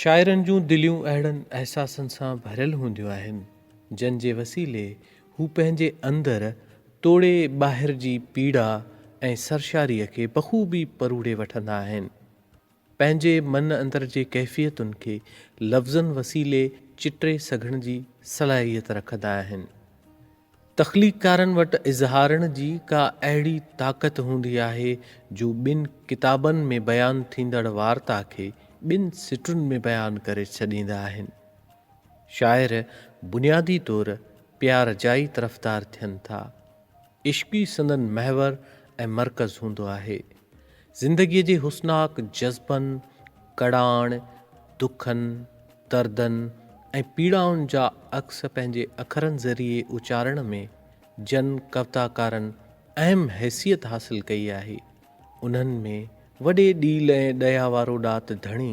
شاعرن جون دليون اهڙن احساسن سان ڀريل هونديون آهن، جن جي وسيلي هو پنهنجي اندر توڙي ٻاهر جي پيڙا ۽ سرشاريء کي بخوبي پروڙي وٺندا آهن. پنهنجي من اندر جي ڪيفيتن کي لفظن وسيلي چٽي سگهڻ جي صلاحيت رکندا آهن. تخليقڪارن وٽ اظهارڻ جي ڪا اهڙي طاقت هوندي آهي جو ٻن ڪتابن ۾ بيان ٿيندڙ وارتا کي ٻن سٽن ۾ بيان ڪري ڇڏيندا آهن. شاعر بنيادي طور پيار جا ئي طرفدار ٿين ٿا. عشق ئي سندن محور ۽ مرڪز هوندو آهي. زندگيء جي حسناڪ جذبن، ڪڙاڻ، دکن، دردن ۽ پيڙائن جا عڪس پنهنجي اکرن ذريعي اچارڻ ۾ جن ڪوتاڪارن اهم حيثيت حاصل ڪئي آهي، انهن ۾ وڏي ڏيل ۽ ڏيا وارو ڏات ڌڻي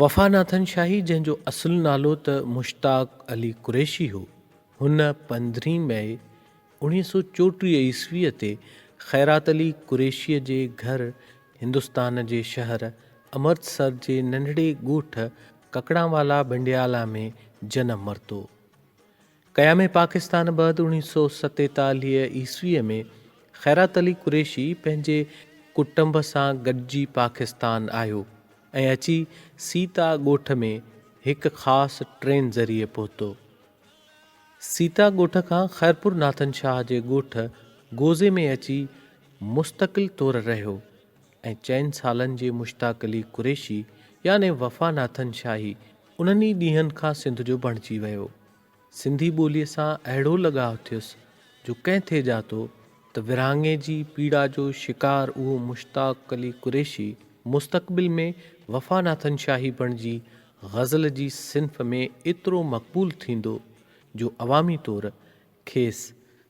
وفا ناٿن شاهي جنهن جو اصل نالو ته مشتاق علي قريشي هو، هن پندرهين مئي اوڻيهه سؤ چوٽيهه عيسويء تي خيرات علي قريشيء جي گهر هندستان جي شهر امرتسر جي ننڍڙي ڳوٺ ڪڪڙانوالا بنڊيالا ۾ جنم ورتو. قيام پاڪستان بعد اوڻيهه سؤ ستيتاليهه عيسويء ۾ خيرات علي قريشي پنهنجي ڪٽنب سان گڏجي پاڪستان آيو ۽ اچي سيتا ڳوٺ ۾ هڪ خاص ٽرين ذريعي پهتو. سيتا ڳوٺ کان خيرپور ناٿن شاهه جي ڳوٺ گوزي ۾ اچي مستقل طور رهيو ۽ چئن سالن جي مشتاق علي قريشي يعني وفا ناٿن شاهي انهن ئي ڏينهن کان سنڌ جو بڻجي ويو. سنڌي ٻوليء سان اهڙو لڳاء ٿيس جو ڪنهن ٿي ڄاتو ته ورهاڱي جي پيڙا جو شڪار اهو مشتاق علي قريشي مستقبل ۾ وفا ناٿن شاهي بڻجي غزل جي صنف ۾ ايترو مقبول ٿيندو جو عوامي طور کيس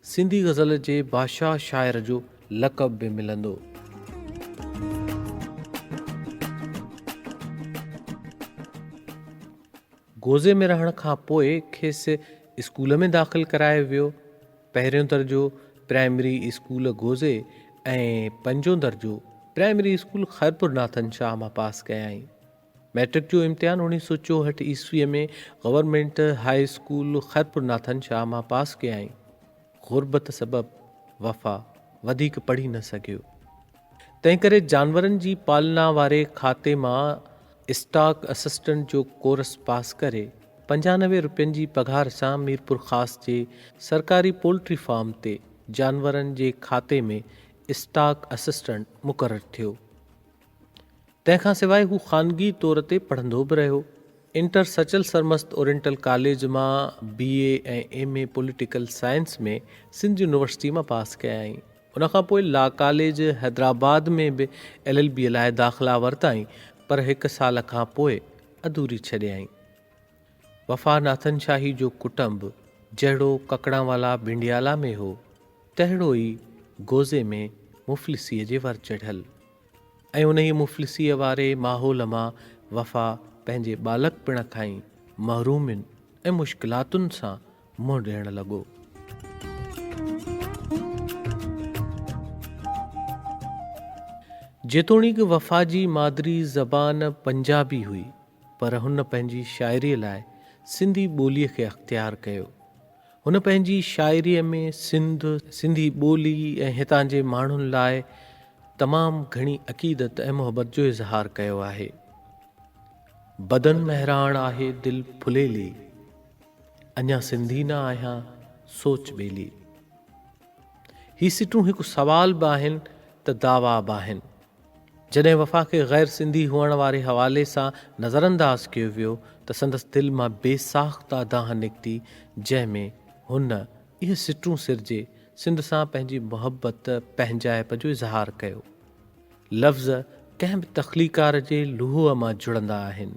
سنڌي غزل جي بادشاهه شاعر جو لقب به ملندو. گوزي ۾ رهڻ کان پوء کيس اسڪول ۾ داخل ڪرايو ويو. پهريون درجو پرائمري اسڪول گوزي ۽ پنجون درجو پرائمري اسڪول خيرپور ناٿن شاهه مان پاس ڪيائين. مئٽرڪ جو امتحان اوڻيھ سؤ چوهٺ عيسويء ۾ government high school Khairpur Nathan Shah مان پاس ڪيائين. غربت سبب وفا وڌيڪ پڙهي نه سگهيو. تنهنڪري جانورن جي پالنا واري کاتي مان اسٽاڪ اسسٽنٽ جو ڪورس پاس ڪري پنجانوي روپين جي پگهار سان ميرپورخاص جي سرڪاري پولٽري فارم تي جانورن جي کاتي ۾ اسٽاڪ اسسٽنٽ مقرر ٿيو. تنهن کان سواء هو خانگي طور تي پڙهندو به رهيو. Inter Sachal Sarmast oriental college مان B A ۽ M A political science ۾ Sindh university مان پاس ڪيائين. ان کان پوء لا ڪاليج حيدرآباد ۾ به ايل ايل بي لاء داخلا ورتائين پر هڪ سال کان پوء اڌوري ڇڏيائين. وفا ناٿن شاهي جو ڪٽنب جهڙو ڪڪڙانوالا ڀنڊيالا ۾ هو تهڙو ئي گوزي ۾ مفلسيء جي ور چڙهيل. ۽ انهيء مفلسيء واري ماحول مان وفا پنهنجي ٻالڪپڻ کان ئي محرومين ۽ مشڪلاتن سان منهن ڏيڻ لڳو. جيتوڻيڪ وفا جي مادري زبان پنجابي هئي، پر هن پنهنجي شاعريء لاء سنڌي ٻوليء کي اختيار ڪيو. هن پنهنجي شاعريء ۾ سنڌ، سنڌي ٻولي ۽ هتان جي ماڻهن لاء تمام گهڻي عقيدت ۽ محبت جو اظهار ڪيو آهي. بدن مهراڻ آهي دل ڦليلي، اڃا سنڌي نه آهيان سوچ ٻيلي. هي سٽون هڪ سوال به آهن ته دعويٰ به آهن. جڏهن وفا کي غير سنڌي هئڻ واري حوالي سان نظرانداز ڪيو ويو ته سندس دل مان بي ساخته دانهن نڪتي جنهن ۾ هن اهي سٽون سرجي سنڌ سان پنهنجي محبت پنهنجائپ جو اظهار ڪيو. لفظ ڪنهن به تخليقڪار جي لوهه مان جڙندا آهن.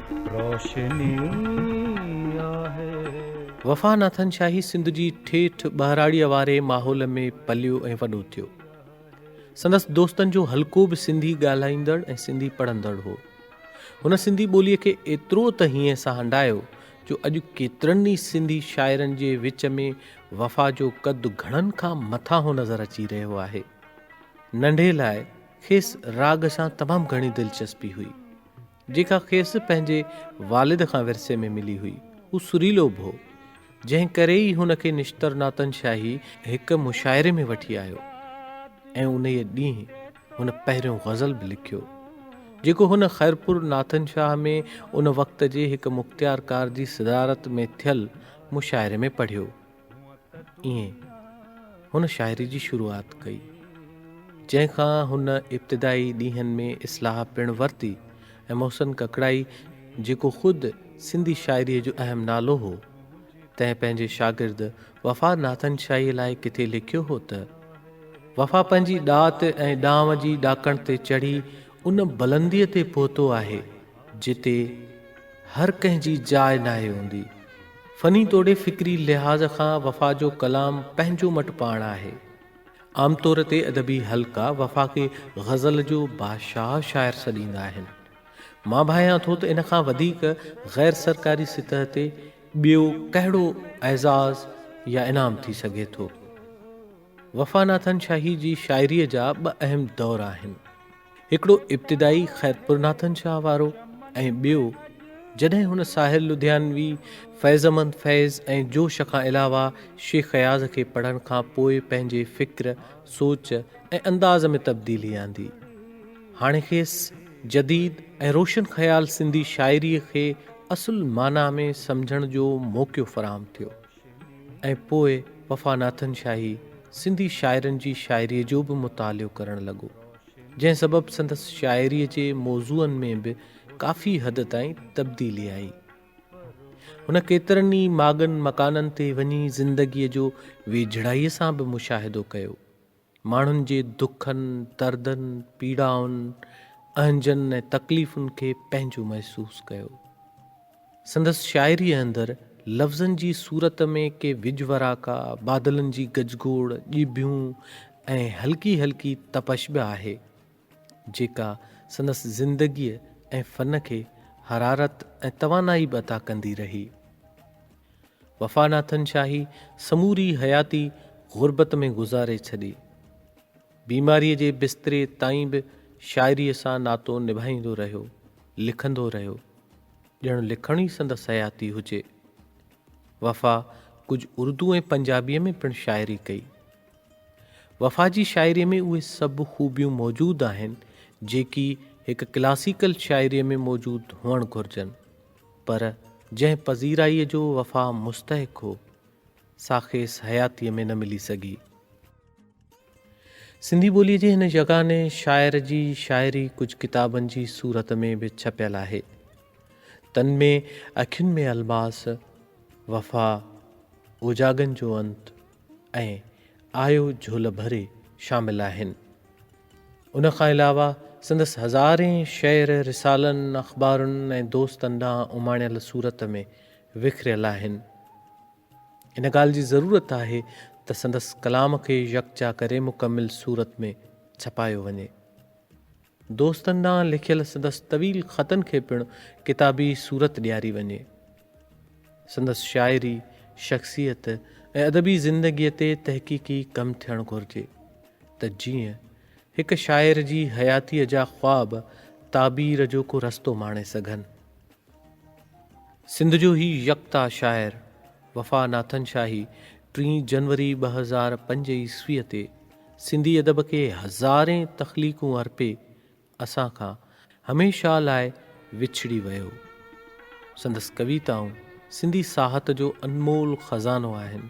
روشني آهي. وفا ناٿن شاهي سنڌ جي ٺيٺ ٻهراڙيء واري ماحول ۾ پليو ۽ وڏو ٿيو. سندس دوستن جو حلقو به سنڌي ڳالهائيندڙ ۽ سنڌي پڙهندڙ هو. هن سنڌي ٻوليء کي ايترو ته هينئين سان هنڊايو جو اڄ ڪيترن ئي سنڌي شاعرن جي وچ ۾ وفا جو قد گهڻن کان مٿانهون نظر اچي رهيو آهي. ننڍي لاء کيس راڳ سان تمام گهڻي دلچسپي هئي. جيڪا کيس پنهنجي والد کان ورثي ۾ ملي هئي. هو سريلو به هو، جنهن ڪري ئي هن کي نشتر ناتن شاهي هڪ مشاعري ۾ وٺي آيو ۽ انهيء ڏينهن هن پهريون غزل به لکيو، جيڪو هن خيرپور ناتن شاهه ۾ ان وقت جي هڪ مختيارڪار جي صدارت ۾ ٿيل مشاعري ۾ پڙهيو. ائين هن شاعري جي شروعات ڪئي، جنهن کان هن ابتدائي ڏينهن ۾ اصلاح پڻ ورتي ۽ محسن ڪڪڙائي جيڪو خود سنڌي شاعريء جو اهم نالو هو، تنهن پنهنجي شاگرد وفا ناٿن شاهيء لاء ڪٿي لکيو هو ته، وفا پنهنجي ڏات ۽ ڏانء جي ڏاڪڻ تي چڙهي ان بلنديء تي پهتو آهي، جتي هر ڪنهن جي جاء ناهي هوندي. فني توڙي فڪري لحاظ کان وفا جو ڪلام پنهنجو مٽ پاڻ آهي. عام طور تي ادبي حلقا وفا کي غزل جو بادشاهه شاعر سڏيندا آهن. مان ڀانيان ٿو ته ان کان وڌيڪ غير سرڪاري سطح تي ٻيو ڪهڙو اعزاز يا انعام ٿي سگهي ٿو. وفا ناٿن شاهي جي شاعريء جا ٻه اهم دور آهن. هڪڙو ابتدائي خيرپورناٿن شاهه وارو ۽ ٻيو جڏهن هن ساحر لڌيانوي، فيضمند فيض ۽ جوش کان علاوه شيخ اياز کي پڙهڻ کان پوء پنهنجي فڪر، سوچ ۽ انداز ۾ تبديلي آندي. هاڻي کيس جديد ۽ روشن خيال سنڌي شاعريء کي اصل معنيٰ ۾ سمجهڻ جو موقعو فراهم ٿيو. ۽ پوء وفا ناٿن شاهي سنڌي شاعرن جي شاعريء جو به مطالعو ڪرڻ لڳو، جنهن سبب سندس شاعريء جي موضوعن ۾ به ڪافي حد تائين تبديلي آئي. هن ڪيترن ئي ماڳن مڪانن تي وڃي زندگيء جو ويجهڙائيء سان به مشاهدو ڪيو، ماڻهن جي دکن، دردن، پيڙائن، اهنجن ۽ تڪليفن کي پنهنجو محسوس ڪيو. سندس شاعريء اندر لفظن جي صورت ۾ ڪي وڄ وراڪا، بادلن جي گجگوڙ، ڄڀيون ۽ هلڪي هلڪي تپش به آهي. جيڪا سندس زندگيء ۽ فن کي حرارت ۽ توانائي به عطا ڪندي رهي. وفا ناٿن شاهي سموري حياتي غربت ۾ گذاري ڇڏي. بيماريء جي بستري تائين به شاعريء سان ناتو نڀائيندو رهيو، لکندو رهيو، ڄڻ لکڻ ئي سندس حياتي هجي. وفا ڪجهه اردو ۽ پنجابيء ۾ پڻ شاعري ڪئي. وفا جي شاعريء ۾ اهي سڀ خوبيون موجود آهن، جيڪي هڪ ڪلاسيڪل شاعريء ۾ موجود هئڻ گهرجن، پر جنهن پذيرائيء جو وفا مستحق هو، سا کيس حياتيء ۾ نه ملي سگهي. سنڌي ٻوليء جي هن يگاني شاعر جي شاعري ڪجهه ڪتابن جي صورت ۾ به ڇپيل آهي. تن ۾، اکين ۾ الماس، وفا، اوجاڳن جو انت، ۽ آيو جھول ڀري شامل آھن. ان کان علاوه سندس ھزارين شعر رسالن، اخبارن ۽ دوستن ڏانھن اماڻيل صورت ۾ وکريل آھن. ان ڳالھه جي ضرورت آھي ته سندس ڪلام کي يڪجا ڪري مڪمل صورت ۾ ڇپايو وڃي. دوستن ڏانهن لکيل سندس طويل خطن کي پڻ ڪتابي صورت ڏياري وڃي. سندس شاعري، شخصيت ۽ ادبي زندگيء تي تحقيقي ڪم ٿيڻ گهرجي ته جيئن هڪ شاعر جي حياتيء جا خواب تعبير جو ڪو رستو ماڻي سگهن. سنڌ جو هي يڪتا شاعر وفا ناٿن شاهي ٽين جنوري ٻه هزار پنج عيسويء تي سنڌي ادب کي هزارين تخليقون ارپي اسان کان هميشه لاء وڇڙي ويو. سندس ڪويتائون سنڌي ساهت جو انمول خزانو آهن.